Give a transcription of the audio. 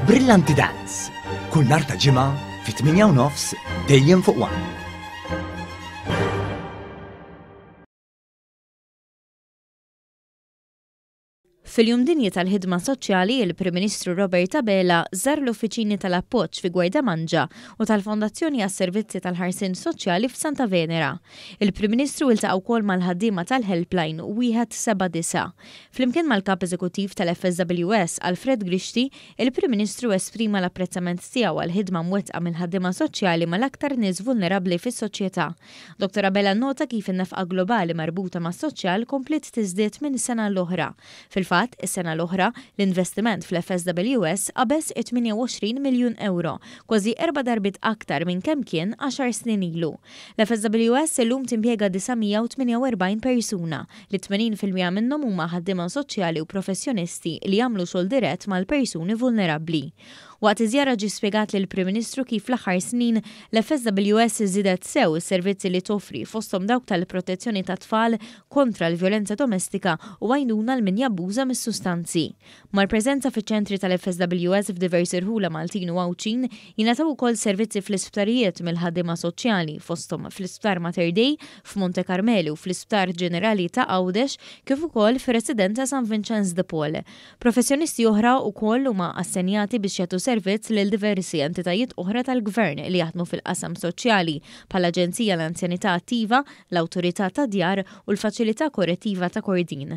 Brillanti Dance, kull nar ta' ġimgħa fit-8 nofs dejjem fuq one. Fil-jum dinji tal-ħidma soċjali, il-Prim Ministru Robert Abela żar l-uffiċini tal-appoġġ fi Gwarda Manġa u tal-Fondazzjoni għas-Servizzi tal-Ħarsin Soċjali f'Santa Venera. Il-Prim Ministru iltaqa' wkoll mal-ħaddiema tal-Helpline wieħed seba' disa' Flimkien mal-Kap Eżekuttiv tal-FSWS, Alfred Grixti, il-Prim Ministru esprima l-apprezzament tiegħu għall-ħidma mwettqa mill-ħaddiema soċjali mal-aktar nies vulnerabbli fis-soċjetà. Dottor Abela nnota kif in-nefqa globali marbuta mas-soċjal kompliet tiżdied minn sena l-oħra. Fil-fatt, is-sena l-oħra, l-investiment fl-FSWS qabeż it-28 miljun ewro, kważi erba' darbiet aktar minn kemm kien għaxar snin ilu. L-FSWS illum timpjega 948 persuna, li 80 fil-mija minnhom huma ħaddiema soċjali u professjonisti li jagħmlu xogħol dirett mal-persuni vulnerabbli. Waqt iż-żjara ġie spjegat lill-Prim Ministru kif fl-aħħar snin l-FSWS żiedet sew is-servizzi li toffri fosthom dawk tal-protezzjoni tat-tfal kontra l-vjolenza domestika u għajnuna għal min jabbuża mis-sustanzi. Mal-preżenza fiċ-ċentri tal-FSWS f'diversi rħula Maltin u Għawdxin, jingħataw ukoll servizzi fl-isptarijiet mill-ħaddiema soċjali, fosthom fl-Isptar Mater Dei, f'Monte Karmeli u fl-Isptar Ġenerali ta' Għawdex, kif ukoll fir-Residenza San Vinċenz de Paul. Professjonisti oħra wkoll huma assenjati biex jagħtu servizz lil diversi entitajiet oħra tal-Gvern li jaħdmu fil-qasam soċjali, bħall-Aġenzija l-Anzjanità Attiva, l-Awtorità tad-Djar u l-Faċilità Korrettiva ta' Kordin.